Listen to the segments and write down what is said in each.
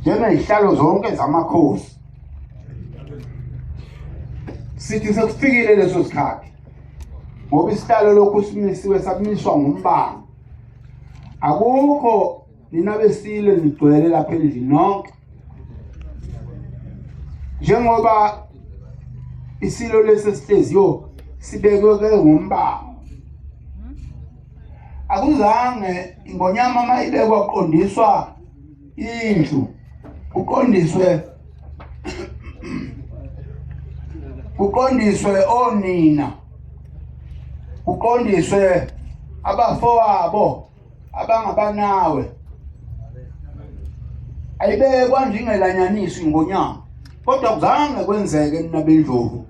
njengezihlalo zonke zamakhosi sithi sekufikile leso sikhathi ngoba isihlalo lokhu simisiwe sakumiswa ngumbani akukho nina besile nigcwele lapha endlini nonke njengoba isilo lesi sihleziyo sibekwe ke ngumbani akuzange ingonyama uma ibekwa kuqondiswa indlu kuqondiswe kuqondiswe onina kuqondiswe abafowabo abangabanawe ayibekwa njengelanyanisi ngonyama kodwa kuzange kwenzeke nina bendlovu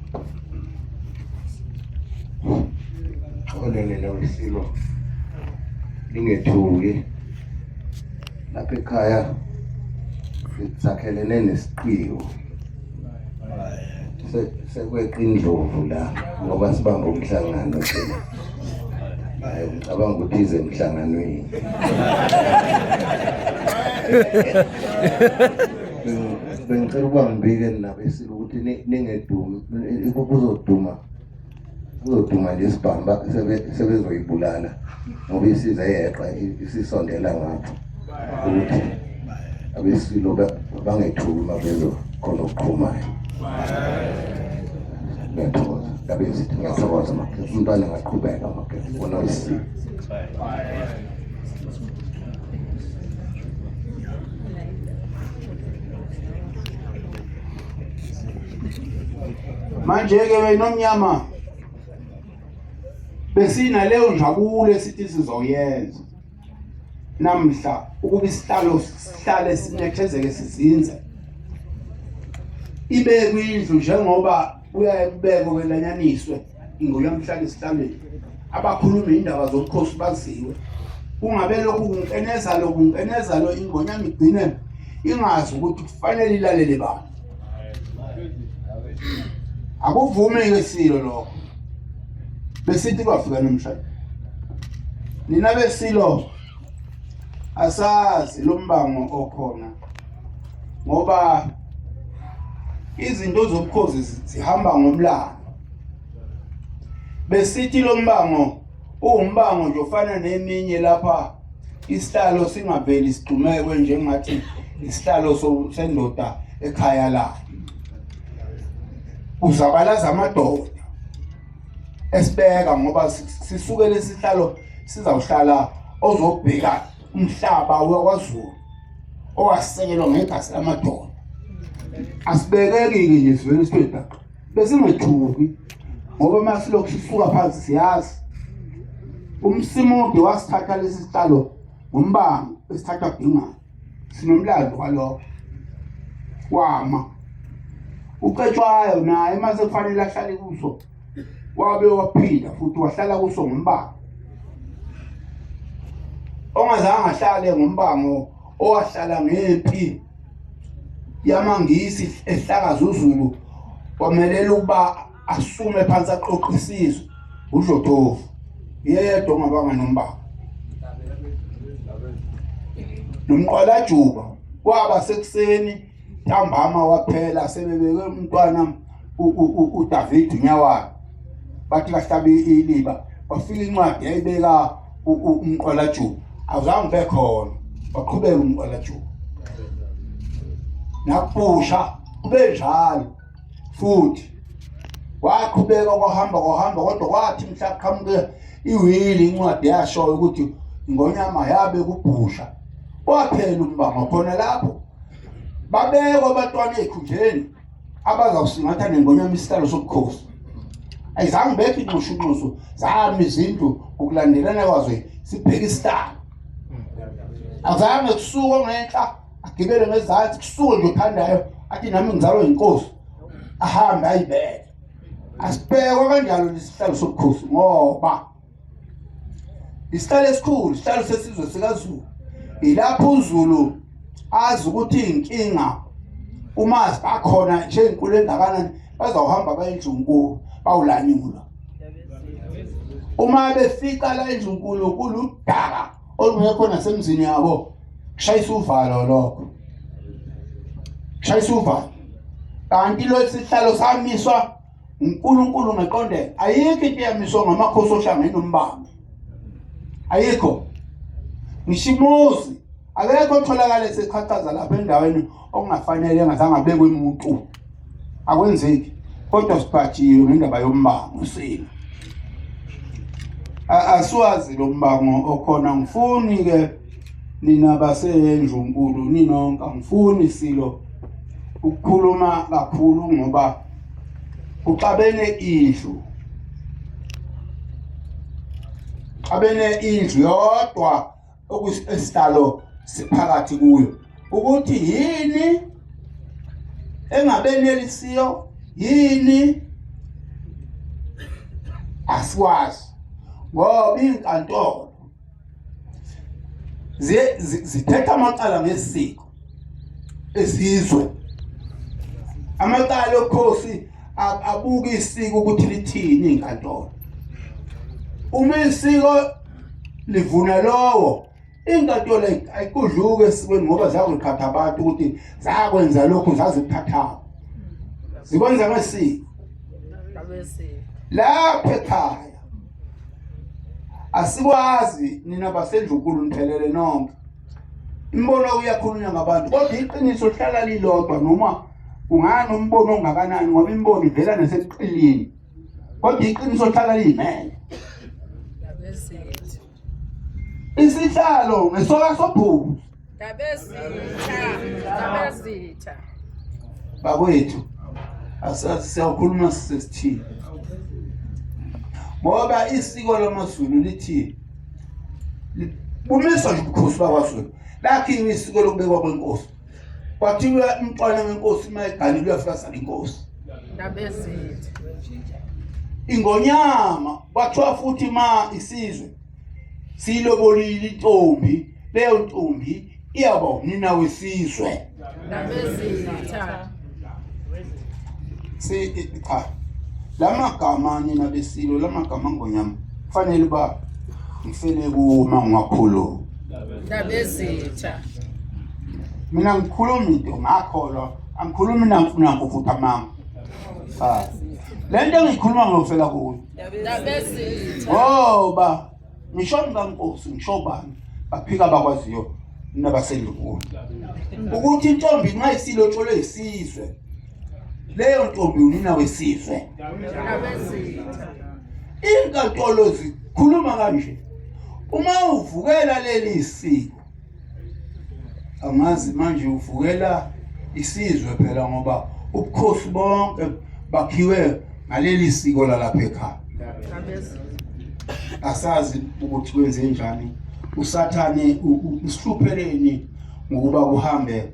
Xolelele wesilo lingethuki lapha ekhaya sakhelene nesiqiwo sekweqa indlovu la ngoba sibamba umhlangano thina hayi ngicabanga ukuthi ize emhlanganweni bengicela ukuba ngibike nabesi ukuthi ningedumi kuzoduma kuzoduma lesibhamba sebezoyibulala ngoba isiza yeqa isisondela ngapho ukuthi abesilo bangethuki uma bezokhona okuqhumayo ngiyathokoza ngabe ngithi ngiyathokoza makhesi umntwana ngaqhubeka makhesi ubona usile manje-ke wena omnyama besinaleyo njabulo esithi sizoyenza namhla ukuba isihlalo sihlale sinethezeke sizinze ibe kwindlu njengoba kuyaye kubekwe kwelanyaniswe ngoyamhlanje esihlalweni abakhuluma indaba zobukhosi baziwe kungabe lokhu kunkeneza lo kunkeneza lo ingonyama igcine ingazi ukuthi kufanele ilalele bani akuvumi ke silo lokho besithi kwafika nomshado nina besilo asazi lombango okhona ngoba izinto zobukhosi zihamba ngomlando besithi lo mbango uwumbango nje ofana neminye lapha isihlalo singaveli sigxumekwe njengathi isihlalo sendoda ekhaya layo uzabalaza amadoda esibeka ngoba sisuke lesihlalo sizawuhlala ozobheka umhlaba wakwaZulu owasekelwa ngegazi lamadoda asibekeki nje sivele sibedaka besingethuki ngoba uma silokhu sisuka phansi siyazi umsimude wasithatha lesi sitshalo ngombango esithatha bhingana sinomlando walokho wama ucetshwayo naye uma sekufanele ahlale kuso wabe waphinda futhi wahlala kuso ngombango ongazange ahlale ngombango owahlala ngempi yamangisi ehlakaza uZulu kwamelela ukuba asume phansi aqoqe isizwe uDlotovu yedwa ongabanga nombaba nomqwalajuba kwaba sekuseni ntambama waphela sebebeke umntwana uDavid uNyawayo bathi bahlabe iliba wafika incwadi yayibeka umqwalajuba awuzange ube khona waqhubeka umqwalajuba nakubusha kube njalo futhi waqhubeka kwahamba kwahamba kodwa kwathi mhla qhamuke iwili incwadi yashoyo ukuthi ingonyama yabe kubhusha waphela umbango khona lapho babekwa abatwana ezikhundleni abazawusingatha nengonyama isihlalo sobukhosi ayizange bekho inxushunxusu zami izindlu ngokulandelana kwazo sibheke isihlalo azange kusuke ngenhla agibele ngezansi kusuke nje phandayo athi nami ngizalwa yinkosi ahambe ayibeke asibhekwa kanjalo lesihlalo sobukhosi ngoba isihlalo esikhulu isihlalo sesizwe sikazulu ilapho uzulu azi ukuthi inkinga uma bakhona nje inkulu engakanani bazawuhamba bayendlunkulu bawulanyula uma befika la endlunkulu kuludaka olungekho nasemzini yabo kushayisa uvalo lokho kushayisa uvalo kanti lo sihlalo samiswa uNkulunkulu ngeqonde ayikho into eyamiswa ngamakhosi ohlanga enombamba ayikho ngishimozi akekho otholakala esechachaza lapha endaweni okungafanele engazange abekwe umuntu akwenzeki kodwa sibhajiwe ngendaba yombango sina asiwazi lo mbango okhona ngifuni ke nina basenjunkulu ninonke angifuni silo ukukhuluma kakhulu ngoba kuxabene indlu xabene indlu yodwa okusihlalo siphakathi kuyo ukuthi yini engabenelisiyo yini asikwazi ngoba inkantolo zithetha amacala ngesiko esizwe amacala okhosi abuke isiko ukuthi lithini inkantolo uma isiko livuna lowo inkantolo ayikudluke esikweni ngoba zakuqhatha abantu ukuthi zakwenza lokhu zaziphathaphi zikwenza ngesiko lapho ekhaya asikwazi nina basendlunkulu niphelele nonke imbono uyakhulunywa ngabantu kodwa iqiniso lihlala lilodwa noma kungani umbono ongakanani ngoba imbono ivela naseqilini kodwa iqiniso lihlala liyimele isihlalo ngesoka sobhuku bakwethu asazi siyakhuluma sisesithini ngoba isiko lamaZulu lithi bumiswa nje ubukhosi bakwaZulu lakhiwe isiko lokubekwa kwenkosi kwathiwa umntwana wenkosi uma egane luyafasana inkosi ingonyama kwathiwa futhi ma isizwe siyilobolile intombi leyo ntombi iyaba unina wesizwe si cha lamagama nina besilo lamagama ngonyama kufanele ba ngifele kuma ngiwakhulu ndabezitha mina ngikhuluma into ngakholwa angikhulumi namfuna ngokufutha mama cha lento engikhuluma ngofela kuyo ngoba ngisho ngikankosi ngisho bani baphika abakwaziyo nabasendunkulu ukuthi intombi nxa isilotsholwe isizwe leyo ntombi unina wesizwe inkantolo zikhuluma kanje uma uvukela leli siko angazi manje uvukela isizwe phela ngoba ubukhosi bonke bakhiwe ngaleli siko lalapha ekhaya asazi ukuthi kwenze njani usathane usihlupheleni ngokuba kuhambe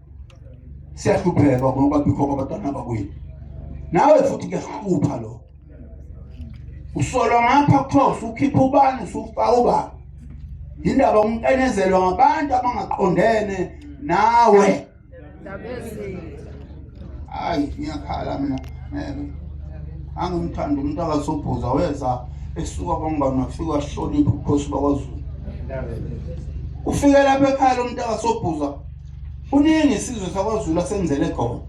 siyahlupheka ngoba bikho abantwana bakwethu nawe futhi kuyahlupha lo usolwa ngapha kuthiwa usukhipha ubani usufaka ubani yindaba umqenezelwa ngabantu abangaqondene nawe hayi ngiyakhala mina ngeke angimthanda umuntu akasubhuza weza esuka kwangibani wafika wahlonipha ubukhosi bakwazulu ufike lapha ekhaya lo muntu akasobhuza kuningi isizwe sakwazulu asenzele khona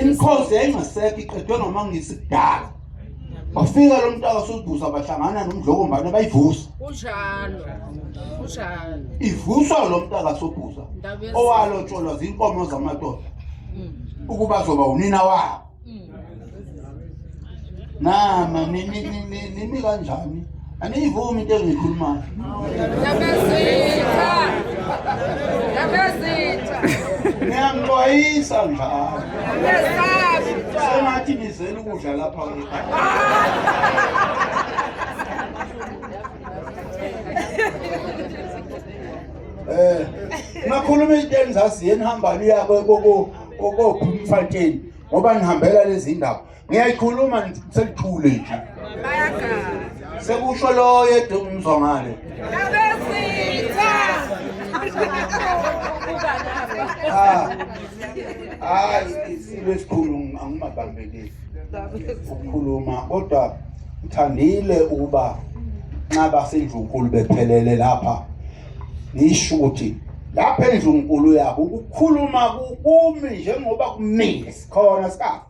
imikhosi yayingasekho iqedwe ngamangisi kudala wafika lo mntu akasubuza bahlangana nomdlokombane bayivusa kunjalo kunjalo ivuswa lo mntu akasubuza owalotsholwa zinkomo zamadoda hmm. ukuba zoba unina wabo nama nimi kanjani aniyivumi into engiyikhulumayo niyangixwayisa njalo sengathi nizela ukudla lapha eh nakhuluma into engizaziyo enihambani yakwe koko kokophi umfatsheni ngoba nihambela lezi ndaba ngiyayikhuluma sekuthule nje sekusho loyo edumzwa ngale ah. hayi isilo esikhulu angimabambeleli ukukhuluma kodwa ngithandile ukuba nxa basenjunkulu bephelele lapha ngisho ukuthi lapha endlunkulu yabo ukukhuluma kumi njengoba kumile sikhona sikafa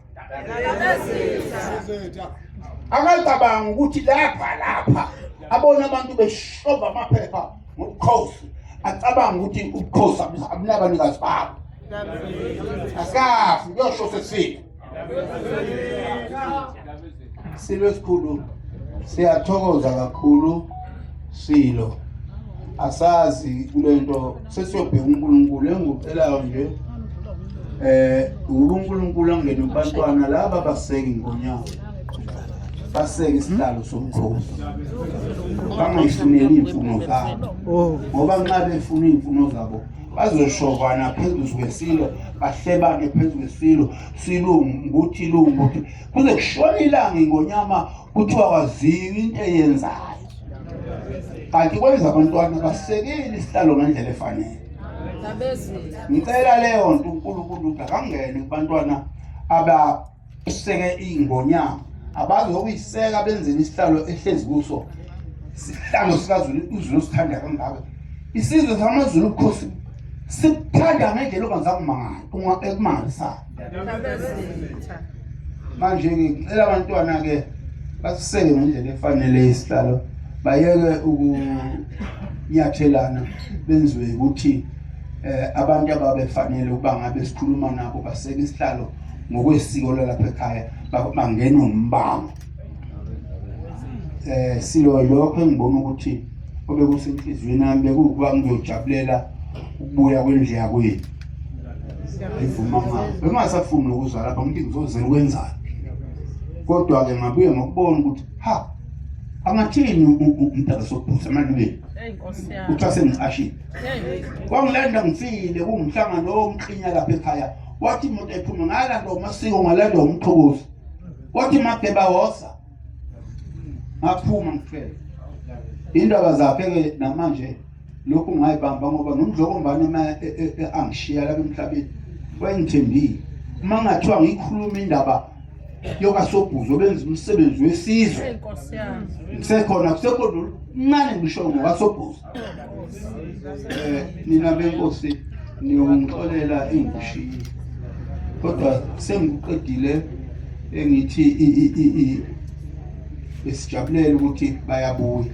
akacabanga ukuthi lapha lapha abona abantu beshova amaphepha ngobukhosi acabanga ukuthi ubukhosi abunabanikazi babo asikafi kuyosho sesifile silo esikhulu siyathokoza kakhulu silo asazi kulento sesiyobheka uNkulunkulu engikucelayo nje eh uNkulunkulu angene kubantwana laba baseki ngonyawo baseke isihlalo somkhosi bangayifuneli iy'mfuno zabo oh. ngoba nxa befuna iy'mfuno zabo bazoshovana phezulu kwesilo bahlebane phezu kwesilo silungu ukuthi lungu ukuthi kuze kushona ilanga ingonyama kuthiwa waziwa into eyenzayo kanti kwenza abantwana basekeli isihlalo ngendlela efanele ngicela leyo nto unkulunkulu ukuthi akangene kubantwana aba useke ingonyama abazi ngokuyiseka benzeni isihlalo ehlezi kuso sihlalo sikazulu uzulu sithanda kangaka isizwe samazulu ubukhosi sikuthanda ngendlela ongazakumangala uma ekumangalisayo manje ngicela abantwana-ke basiseke ngendlela efanele isihlalo bayeke ukunyathelana benziwe ukuthi um abantu ababefanele ukuba ngabe sikhuluma nabo baseke isihlalo ngokwesiko lalapha ekhaya bangena umbango eh silo lokho engibona ukuthi obekusenhliziyweni yami bekuwukuba ngiyojabulela ukubuya kwendlu yakwethu ngivuma ngabo bengasafuni nokuza lapha ngithi ngizozela ukwenzani kodwa-ke ngabuye ngokubona ukuthi ha angathini umdala sokubhusa emalibeni kuthiwa sengiqashile kwangilanda ngifile kungumhlangano omklinya lapha ekhaya wathi umuntu ephuma ngalanda umasiko ngalanda umqhokozi wathi mageba wosa ngaphuma ngifele indaba zakhe ke namanje lokhu ngayibamba ngoba nomdlokombane uma e, e, e, angishiya lapha emhlabeni wayengithembile uma ngathiwa ngikhuluma indaba yokasobhuzo benza umsebenzi wesizwe kusekhona kusekhona ncane ngisho ngokasobhuzo Eh nina benkosi niyongixolela ingishini. Kodwa sengiqedile engithi esijabulela ukuthi bayabuya.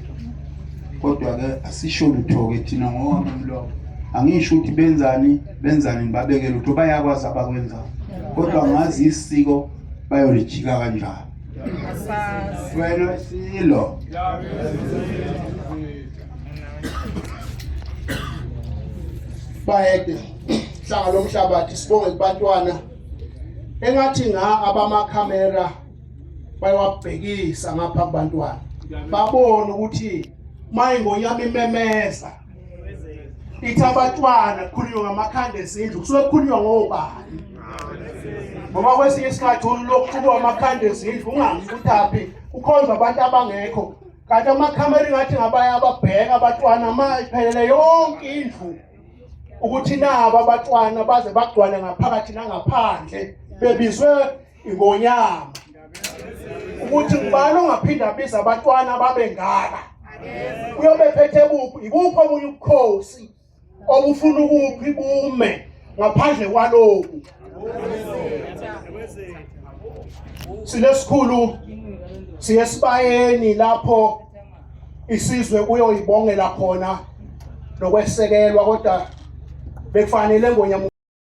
Kodwa ke asisho lutho ke thina ngowami umlomo. Angisho ukuthi benzani benzani ngibabeke lutho bayakwazi abakwenzayo. Kodwa ngazi isiko bayolijika kanjani. Sicelo silo. Bayede hlanga lomhlabathi sibonge kubantwana engathi nga abamakhamera bayawabhekisa ngapha kubantwana babone ukuthi mayingonyama imemeza ithi abatwana kukhulunywa ngamakhanda ezindlu kusuke kukhulunywa ngobani ngoba kwesinye isikhathi ulokuqhuba amakhanda ezindlu ungazi ukuthi aphi ukhonza abantu abangekho kanti amakhamera ingathi ngabanye ababheka abatwana ma iphelele yonke indlu ukuthi nabo abatwana baze bagcwale ngaphakathi nangaphandle bebizwe ingonyama ukuthi ngubani ongaphinda abiza abantwana babengaka uyobe phethe kuphi ikuphi omunye ubukhosi obufuna ukuphi bume ngaphandle kwaloku silesikhulu siye sibayeni lapho isizwe kuyoyibongela khona nokwesekelwa kodwa bekufanele ngonyama